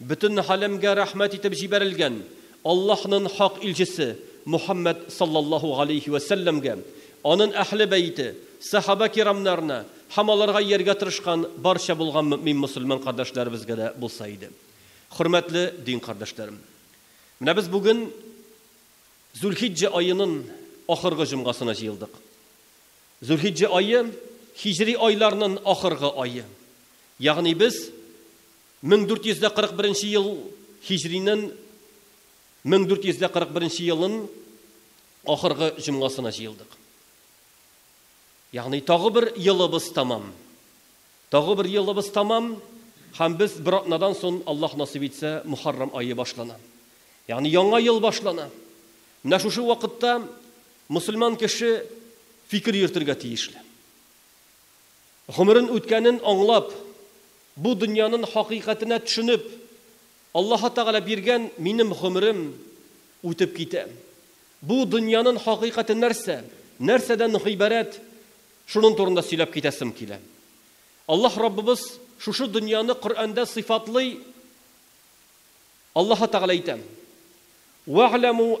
Бөтен галәмгә рәхмәт итеп җибәрелгән Аллаһнын хак илчесе Мухәммәд саллаллаһу галәйһи вә сәлләмгә, анын әһле бәете, сәхабә кирамнарына һәм аларга ияргә тырышкан барча булган мөэмин мөселман кардәшләребезгә дә булса иде. Хөрмәтле дин кардәшләрем! Менә без бүген Зулхиҗҗә аенын ахыргы җомгасына җыелдык. Зулхиҗҗә ае, һиҗри айларнын ахыргы ае. Ягъни без 1441 ел һиҗринен 1441 елын ахыргы җомгасына җыелдык. Ягъни тагы бер елыбыз тәмам. Тагы бер елыбыз тәмам һәм без бер атнадан сон, Аллаһ насыйп итсә, Мөхәррәм ае башлана. Ягъни яңа ел башлана. Менә шушы вакытта мөселман кеше фикер йөртергә тиешле. Гомерен үткәнен аңлап, бу дөньянын хакыйкатенә төшенеп, Аллаһы Тәгалә биргән минем гомерем үтеп китә. Бу дөньянын хакыйкате нәрсә, нәрсәдән гыйбарәт, шунын турында сөйләп китәсем килә. Аллаһ Раббыбыз шушы дөньяны Коръәндә сыйфатлый, Аллаһы Тәгалә әйтә, Вә'ләмү,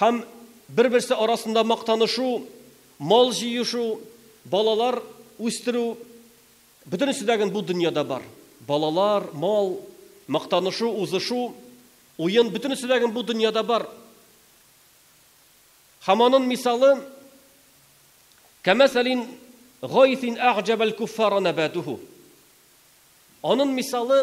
Һәм бер-берсе арасында мактанышу, мал җыешу, балалар үстерү, бөтенесе дә гел бу дөньяда бар. Балалар, мал, мактанышу, узышу, уен, бөтенесе дә гел бу дөньяда бар. Һәм анын мисалы, кәмәсәлин гайсин әгъҗәбәл куффара нәбатуху. Анын мисалы,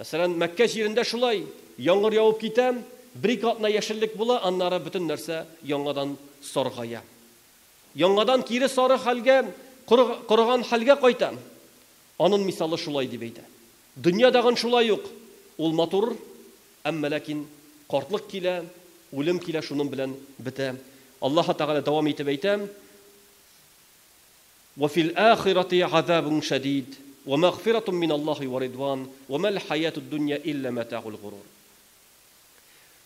Мәсәлән, Мәккә җирендә шулай, яңгыр явып китә, бер-ике атна яшеллек була, аннары бөтен нәрсә яңадан саргая. Яңадан кире сары хәлгә, корыган хәлгә кайта. Анын мисалы шулай, дип әйтә. Дөнья дагын шулай ук, ул матур, әмма ләкин картлык килә, үлем килә, шунын белән бетә. Аллаһы Тәгалә дәвам итеп әйтә. Вә фил ахирати газабун шәдид, вә мәгъфиратун мин Аллаһи вә ридван, вә мәл хәятуд дөнья илля мәтәгул горур.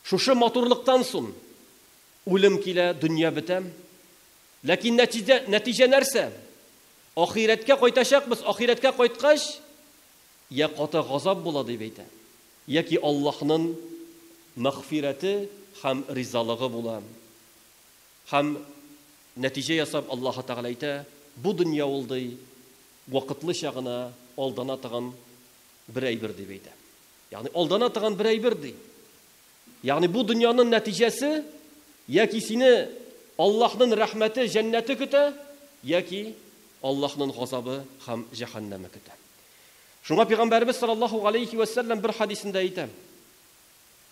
Шушы матурлыктан сон үлем килә, дөнья бетә. Ләкин нәтиҗә, нәтиҗә нәрсә? Ахирәткә кайтачакбыз, ахирәткә кайткач, йә каты газап була дип әйтә, яки Аллаһнын мәгъфирәте һәм ризалыгы була. Һәм, нәтиҗә ясап, Аллаһы Тәгалә әйтә, Бу дөнья ул, ди, вакытлыча гына алдана тыган бер әйбер, дип әйтә. Ягъни алдана тыган бер әйбер, ди. Ягъни бу дөньянын нәтиҗәсе яки сине Аллаһнын рәхмәте, җәннәте көтә, яки Аллаһнын газабы һәм җәһәннәме көтә. Шуңа Пәйгамбәребез салләллаһу галәйһи вә сәлләм бер хәдисендә әйтә,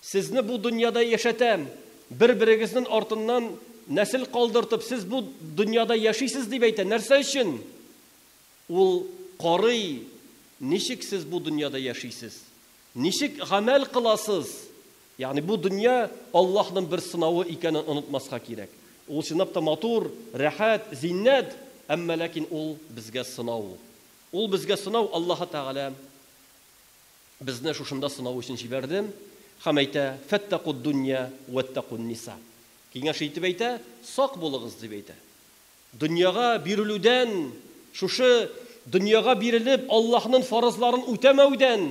Сезне бу дөньяда яшәтәм, бер-берегезнен артыннан нәсел калдыртып, сез бу дөньяда яшисез, дип әйтә. Нәрсә өчен? Ул карый, ничек сез бу дөньяда яшисез, ничек гамәл кыласыз. Ягъни бу дөнья Аллаһның бер сынавы икәнен онытмаска кирәк. Ул чынлап та матур, рәхәт, зиннәт, әмма ләкин ул безгә сынау. Ул безгә сынау, Аллаһы Тәгалә. Безне шушында сынау өчен җибәрдем, һәм әйтә, Фәттәкуддунья уәттәкунниса. Киңәш итеп әйтә, сак булыгыз, дип әйтә. Дөньяга бирелүдән, шушы дөньяга бирелеп, Аллаһнын фарызларын үтәмәүдән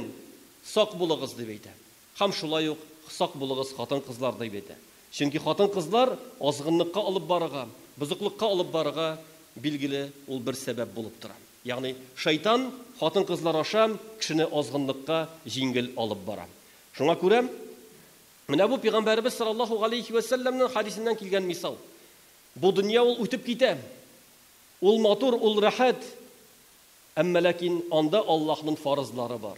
сак булыгыз, дип әйтә. Һәм шулай ук сак булыгыз хатын-кызлар, дип әйтә. Чөнки хатын-кызлар азгынлыкка алып барырга, бозыклыкка алып барырга, билгеле, ул бер сәбәп булып тора. Ягъни, Шайтан хатын-кызлар аша кешене азгынлыкка җиңел алып бара. Шуңа күрә менә бу Пәйгамбәребез саллаллаһу галәйһи вә сәлләмнең хәдисеннән килгән мисал. Бу дөнья ул үтеп китә. Ул матур, ул рәхәт. Әмма ләкин анда Аллаһнын фарызлары бар.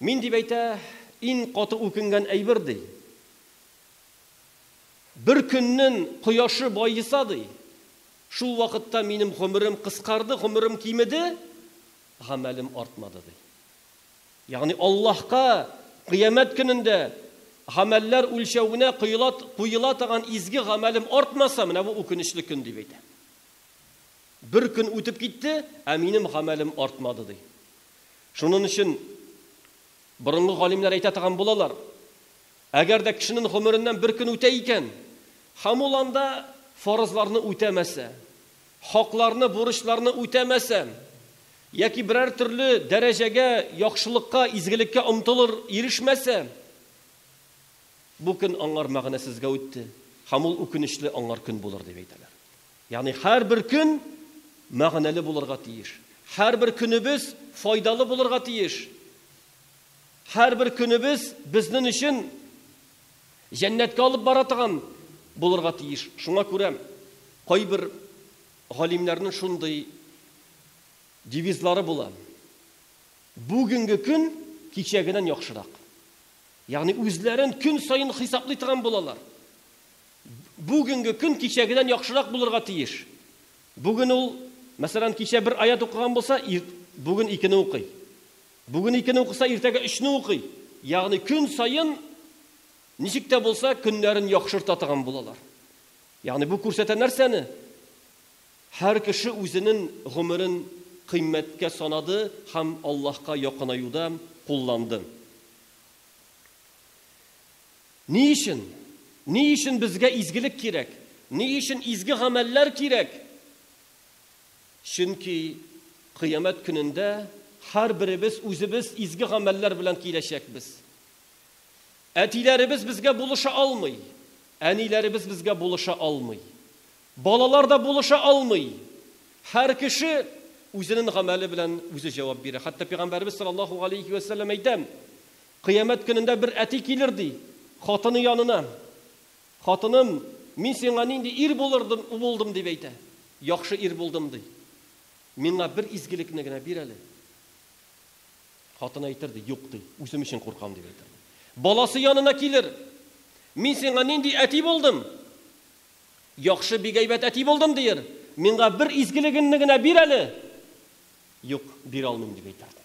Мин, дип әйтә, иң каты үкенгән әйбер, ди. Бер көннен кояшы баеса, ди. Шул вакытта минем гомерем кыскарды, гомерем кимеде, гамәлем артмады, ди. Ягъни Аллаһка Кыямәт көнендә гамәлләр үлчәвенә коела куела таган изге гамәлем артмаса, менә бу үкенечле көн, дип әйтә. Бер көн үтеп китте, ә минем гамәлем артмады, ди. Шунын өчен борынгы галимнәр әйтә таган булалар, Әгәр дә кешенен гомереннән бер көн үтә икән, һәм ул анда фарызларны үтәмәсә, хакларны, бурычларны үтәмәсә, яки берәр төрле дәрәҗәгә, яхшылыкка, изгелеккә омтылыр, ирешмәсә, бу көн аңар мәгънәсезгә үтте, һәм ул үкенечле аңар көн булыр, дип әйтәләр. Ягъни һәрбер көн мәгънәле булырга тиеш. Һәрбер көнебез файдалы булырга тиеш. Һәрбер көнебез безнен өчен җәннәткә алып бара торган булырга тиеш. Шуңа күрә кайбер галимнәрнен шундый девизлары була, Бүгенге көн кичәгенән яхшырак. Ягъни үзләрен көн саен хисаплый торган булалар. Бүгенге көн кичәгедән яхшырак булырга тиеш. Бүген ул, мәсәлән, кичә бер аять укыган булса, ир, бүген икене укый. Бүген икене укыса, иртәгә өчне укый. Ягъни көн саен ничек тә булса көннәрен яхшырта торган булалар. Ягъни бу күрсәтә нәрсәне? Һәр кеше үзенен гомерен кыйммәткә санады һәм Аллаһка якынаюда кулланды. Ни өчен? Ни өчен безгә изгелек кирәк? Ни өчен изге гамәлләр кирәк? Чөнки Кыямәт көнендә һәрберебез үзебез изге гамәлләр белән киләчәкбез. Әтиләребез безгә булыша алмый, әниләребез безгә булыша алмый, балалар да булыша алмый. Һәр кеше үзенен гамәле белән үзе җавап бирә. Хәтта Пәйгамбәребез саллаллаһу галәйһи вә сәлләм әйтә, Кыямәт көнендә бер әти килер, ди, хатыны янына. Хатыным, мин сиңа нинди ир булырдым, булдым, дип әйтә. Яхшы ир булдым, ди. Миңа бер изгелекне генә бир әле. Хатыны әйтер, ди, юк, ди, үзем өчен куркам, дип әйтер. Баласы янына килер. Мин сиңа нинди әти булдым? Яхшы, бик әйбәт әти булдым, дияр. Миңа бер изгелегенне генә бир әле. Юк, бирә алмыйм, дип әйтер, ди.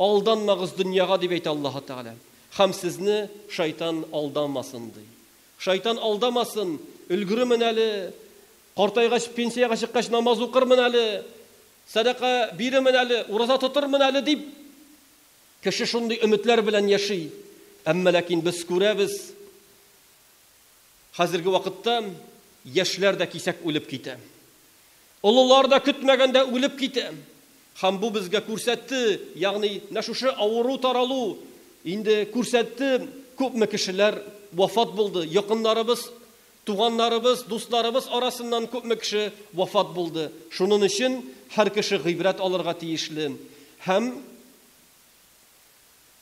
Алданмагыз дөньяга, дип әйтә Аллаһы Тәгалә, һәм сезне шайтан алдамасын, ди. Шайтан алдамасын, өлгеремен әле, картайгач, пенсиягә чыккач, намаз укырмын әле, сәдака бирермен әле, ураза тотырмын әле, дип, кеше шундый өметләр белән яши. Әмма ләкин без күрәбез, хәзерге вакытта яшьләр дә кисәк үлеп китә. Олылар да көтмәгәндә үлеп китә. Һәм бу безгә күрсәтте, ягъни менә шушы авыру таралу инде күрсәтте, күпме кешеләр вафат булды, якыннарыбыз, туганнарыбыз, дусларыбыз арасыннан күпме кеше вафат булды. Шунын өчен һәр кеше гыйбрәт алырга тиешле һәм.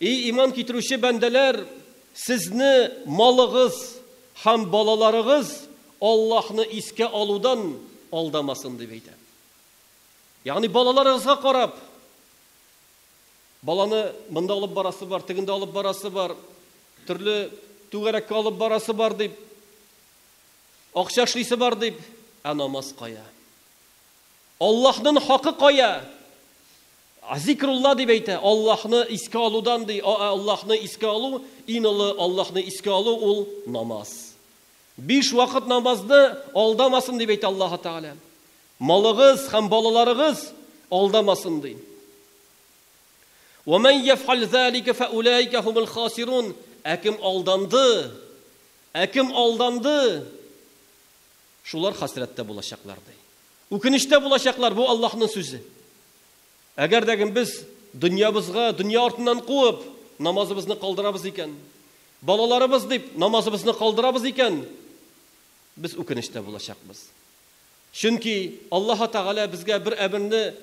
Эй иман китерүче бәндәләр, сезне малыгыз һәм балаларыгыз Аллаһны искә алудан алдамасын, дип әйтә. Ягъни балаларыгызга карап, Баланы монда алып барасы бар, тегендә алып барасы бар, төрле түгәрәккә алып барасы бар дип, акча эшлисе бар дип, ә намаз кая? Аллаһнын хакы кая? Азикрулла дип әйтә, Аллаһны искә алудан, ди, а ә Аллаһны искә алу, ин олы Аллаһны искә алу ул намаз. Биш вакыт намазны алдамасын дип әйтә Аллаһы Тәгалә. Малыгыз һәм балаларыгыз алдамасын, ди. Уәмән йәфәл зәликә фәүләикә һумул хасирун, ә кем алданды, ә кем алданды, шулар хәсрәттә булачаклар, ди. Үкенечтә булачаклар, бу Аллаһның сүзе. Әгәр дә кем без дөньябызга дөнья артыннан куып, намазыбызны калдырабыз икән, балаларыбыз дип намазыбызны калдырабыз икән, без үкенештә булачакбыз. Чөнки Аллаһы Тәгалә безгә бер әмерне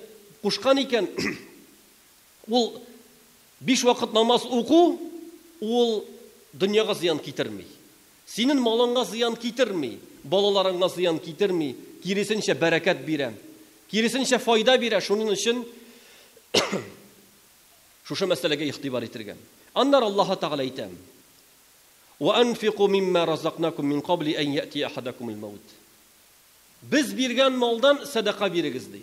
кушкан икән, ул, биш вакыт намаз уку, ул дөньяга зыян китерми. Синен малыңа зыян китерми, балаларыңа зыян китерми, киресенчә бәрәкәт бирә. Киресенчә файда бирә, шунын өчен шушы мәсьәләгә игътибар итергә. Аннары Аллаһы Тәгалә әйтә, Вә анфику мимма разакнакум мин кабли ән йәтия ахадакумул мәут. Без биргән малдан сәдака бирегез, ди.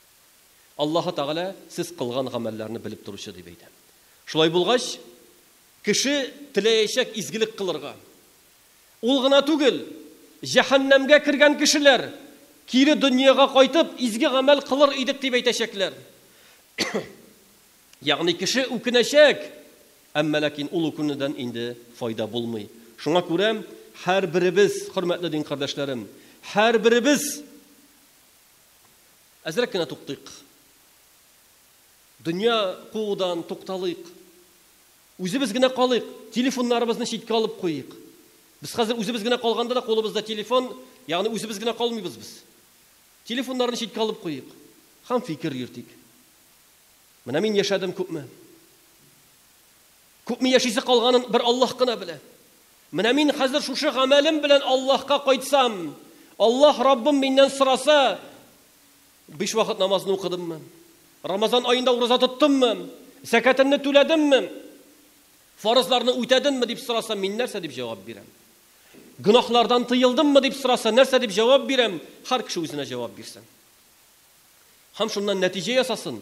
Аллаһы Тәгалә сез кылган гамәлләрне белеп торучы, дип әйтә. Шулай булгач, кеше теләячәк изгелек кылырга. Ул гына түгел, җәһәннәмгә кергән кешеләр, кире дөньяга кайтып, изге гамәл кылыр идек, дип әйтәчәкләр. Ягъни кеше үкенәчәк, әмма ләкин ул үкенүдән инде файда булмый. Шуңа күрә һәрберебез, хөрмәтле дин кардәшләрем, һәрберебез Әзрәк кенә туктыйк. Дөнья куудан тукталыйк. Үзебез генә калыйк. Телефоннарыбызны читкә алып куйыйк. Без хәзер үзебез генә калганда да кулыбызда телефон, ягъни үзебез генә калмыйбыз без. Телефоннарны читкә алып куйыйк һәм фикер йөртик. Менә мин яшәдем күпме. Күпме яшисе калганын бер Аллаһ кына белә. Менә мин хәзер шушы гамәлем белән Аллаһка кайтсам, Аллаһ Раббым миннән сораса, биш вакыт намазны укыдыммы, Рамазан аенда ураза тоттыммы, зәкәтемне түләдемме, фарызларны үтәдемме дип сораса, мин нәрсә дип җавап бирәм? Гөнаһлардан тыелдыммы дип сораса, нәрсә дип җавап бирәм? Һәр кеше үзенә җавап бирсен. Һәм шуннан нәтиҗә ясасын.